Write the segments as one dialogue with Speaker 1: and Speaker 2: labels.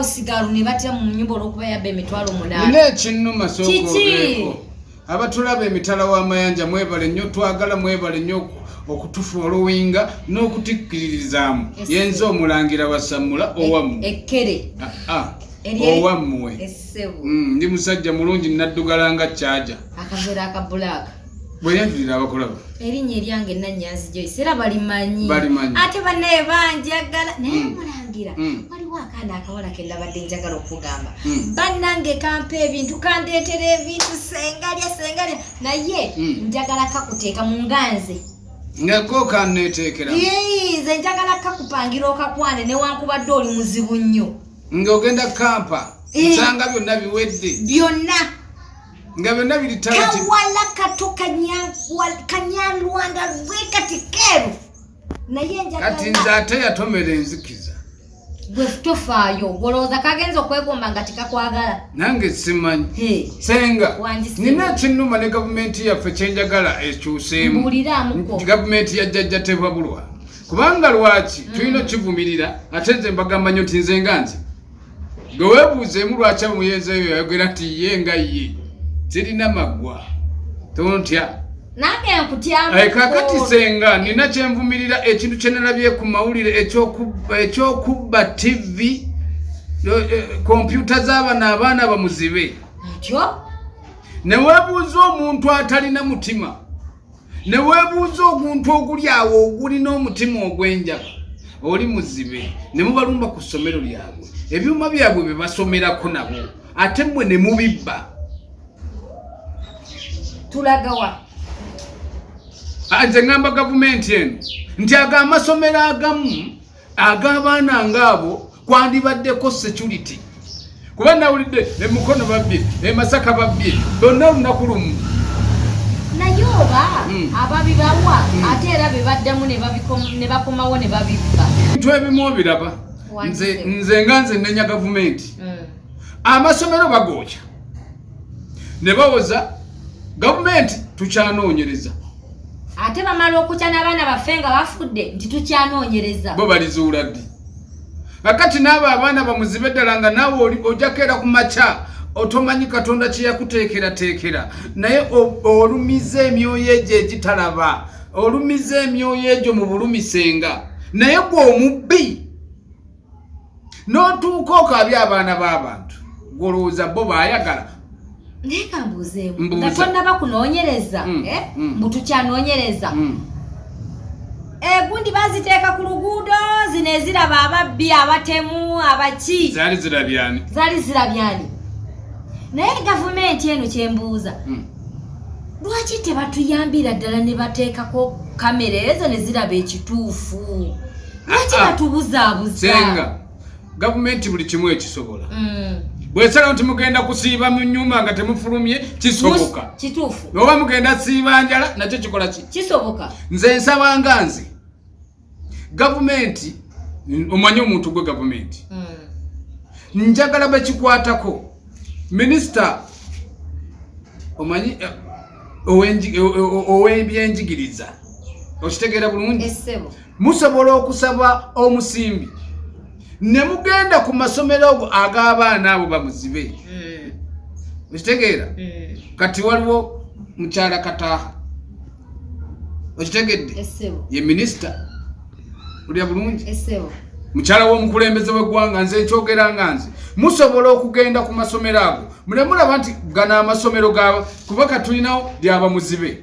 Speaker 1: sigalo ne batya mu nyumba olwokuba yabba emitwalo munaana naye ekinnuma
Speaker 2: sokoeko abatulaba emitala w'amayanja mwebale nnyo twagala mwebale nnyo okutufu oluwinga n'okutikkiririzaamu yenze omulangira wasammula e- owamu ekkere ah,
Speaker 1: ah.
Speaker 2: owammwe
Speaker 1: mm, ndi musajja
Speaker 2: mulungi naddugala nga kyaja akaveera akabulaaka
Speaker 1: bweyanjulira
Speaker 2: abakolabo erinnya eryange
Speaker 1: nanyanzi joyce era balimanyi ate banaye banjagala naye mm. mulangira mm. waliwo akaana akawala kendabadde njagala okugamba mm. banange kampa ebintu kandeetera ebintu sengalya sengalya naye njagala kakuteeka mu nganze ngako
Speaker 2: kaneteekera nze
Speaker 1: njagala kakupangira okakwane newankubadde oli muzibu nnyo ngaogenda
Speaker 2: kampa nsanga eh. byonna biwedde byonna
Speaker 1: nga
Speaker 2: byonna biri kawala kato
Speaker 1: kanyalwanda lwekati keru naye kati nze ate yatomera
Speaker 2: enzikiza gwe
Speaker 1: tofaayo olowooza kagenza okwegomba nga tikakwagala nange simanyi
Speaker 2: senga nina ekinuma ne gavumenti yaffe kyenjagala ekyuseemu
Speaker 1: gavumenti ya jjajja
Speaker 2: tebabulwa kubanga lwaki mm. tulina okivumirira ate nze mbagamba nyo nti nze nga nze nga webuuzeemu lwaki omuyenzi oyo yayogera nti ye nga ye zirina maggwa tontya
Speaker 1: kakati senga
Speaker 2: nina kyenvumirira ekintu kyenalabye ku mawulire ekyokubba tv kompyuta eh, zabana abaana bamuzibe newebuuza omuntu atalina mutima ne weebuuza oguntu oguli awo ogulina omutima ogw'enjaba oli muzibe ne mubalumba ku ssomero lyabwe ebyuma byabwe bye basomerako nabo ate mmwe ne mubibba
Speaker 1: tulagawa
Speaker 2: nze ngamba gavumenti eno nti ago amasomero agamu ag'abaana ng'abo kwandibaddeko security kuba nawulidde emukono babbye emasaka babbye bonna olunaku lumu
Speaker 1: naye oba hmm. ababibawa hmm. ate era bebaddamu ne bakomawo ne babibba bintu ebimu
Speaker 2: obiraba nze nga nze nenya gavumenti hmm. amasomero bagooca ne bawoza gavumenti tukyanoonyereza ate
Speaker 1: bamala okutya n'abaana baffe nga bafudde nti tukyanoonyereza bo balizuula ddi
Speaker 2: kakati n'abo abaana bamuzibe ddala nga naawe oli ojakeera ku makya otomanyi katonda kye yakuteekerateekera naye olumiza emyoyo egyo egitalaba olumiza emyoyo egyo mu bulumisenga naye gwe omubbi n'otuuka okaabya abaana b'abantu gwolowooza bo baayagala naye
Speaker 1: kambuuzeemu nga tonnaba kunoonyereza mm, eh? mm. mbu tukyanoonyereza mm. egundi eh, baziteeka ku luguudo zino eziraba ababbi abatemu abaki zaali zirabyani
Speaker 2: zaali zirabyani
Speaker 1: naye gavumenti eno kyembuuza lwaki tebatuyambira ddala ne bateekako kamera ezo ne ziraba ekituufu lwaki ah, ah. batubuzaabuza senga
Speaker 2: gavumenti buli kimu ekisobola mm. bwesala nti mugenda kusiiba mu nyumba nga temufulumye kisoboka kituufu oba
Speaker 1: mugenda siiba
Speaker 2: njala nakyo kikola ki kisoboka nze
Speaker 1: nsaba nga
Speaker 2: nze gavumenti omanye omuntu gwe gavumenti mm. njagala bekikwatako minisita omanyi eh, ow'ebyenjigiriza okitegeera bulungi musobola
Speaker 1: okusaba
Speaker 2: omusimbi ne mugenda ku masomero ogo ag'abaana abo bamuzibe hmm. okitegeera hmm. kati waliwo mukyala kataaha okitegedde ye minisita olya bulungi mukyala
Speaker 1: w'omukulembeze
Speaker 2: w'eggwanga nze nkyogera nga nze musobola okugenda ku masomero ago mule mulaba nti gano amasomero ga kuba katulinawo lyaba muzibe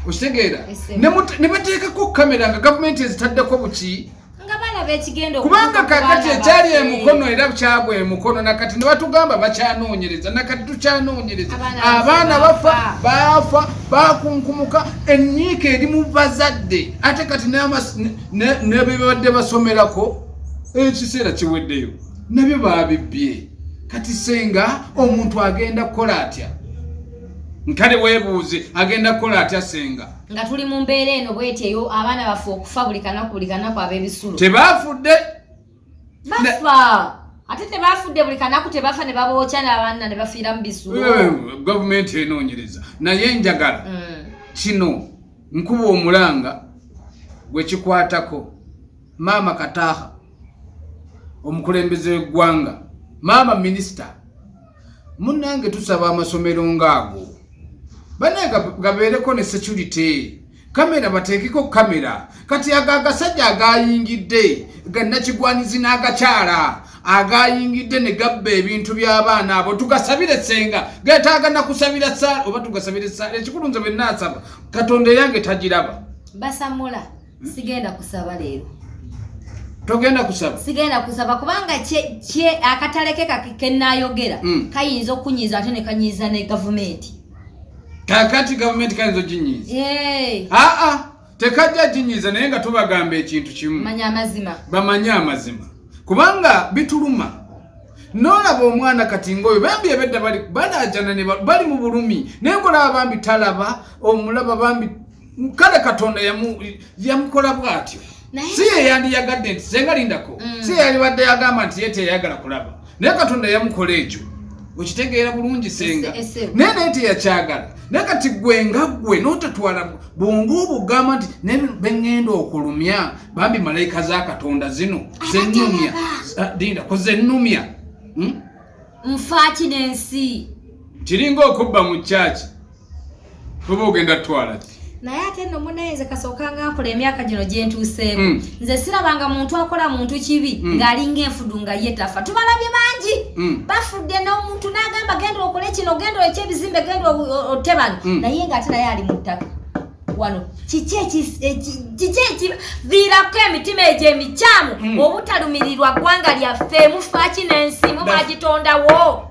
Speaker 2: okitegeera ne bateekako kamera nga gavumenti ezitaddeko buki kubanga kakati ekyali emukono era kyagwa emukono nakati ne batugamba bakyanoonyereza nakati tukyanoonyereza abaana bafa baafa bakunkumuka enyiika eri mu bazadde ate kati nebibadde basomerako ekiseera kiweddeyo nabyo babibbye kati senga omuntu agenda kukola atya nkale webuuze agenda kukola atya senga nga tuli mu mbeera
Speaker 1: eno bweti eyo abaana bafe okufa buli kanaku buli kanaku ab'ebisulo tebafudde bafa ate tebafudde buli kanaku tebafa ne babookya n'abaana ne bafiira mu bisulo eh, gavumenti
Speaker 2: enoonyereza naye njagala mm. kino nkuba omulanga gwe kikwatako Maama Kataha, omukulembeze w'eggwanga, maama minisita, munnange tusaba amasomero ng'ago banaye gabeereko ne security kamera bateekeko kamera kati ago agasajja agayingidde gannakigwanyizi n'agakyala agayingidde ne gabba ebintu by'abaana abo tugasabire senga getaaga nakusabira saala oba tugasabire saala ekikulu nze bwe naasaba katonda eyange tagiraba basamula
Speaker 1: sigenda kusaba leero
Speaker 2: togenda kusaba sigenda kusaba kubanga
Speaker 1: kye akatale ke kenayogera mm. kayinza okunyiza ate nekanyiza ne gavumenti kakati
Speaker 2: gavumenti kayinza oginyiza hey. aa tekajja ginyiza naye nga tubagamba ekintu kimu manya amazima bamanye amazima kubanga bituluma nolaba omwana kati ngaoyo bambi ebedda balajana bali mu bulumi naye nkolaba bambi talaba omulaba bambi kale katonda yamukola bwatyo si yeyandiyagadde nti senga lindako mm. si yeyalibadde yagamba nti ye teyayagala kulaba naye katonda yamukola ekyo okitegeera bulungi senga naye naye teyakyagala naye kati gwe nga gwe notatwala bwonga obugamba nti naye beŋŋenda okulumya bambi malayika za katonda zino zenumya ah, dinda ku zenumya hmm?
Speaker 1: nfaaki nensi kiringa
Speaker 2: okubba mu kyaki Toba ogenda twala ki? Naye ate no
Speaker 1: munaye nze kasooka nga nkola emyaka gino gye ntuuseeko. Mm. Nze sirabanga muntu akola muntu kibi mm. ng'alinga enfudu nga ye tafa. Tubalabye bangi. Mm. Bafudde n'omuntu n'agamba genda okole kino, genda oleke ebizimbe, genda otte bano. Mm. Naye ng'ate naye ali mu ttaka. wano kiki ekiviirako emitima egyo emikyamu mm. obutalumirirwa ggwanga lyaffe mufaaki n'ensi mubagitondawo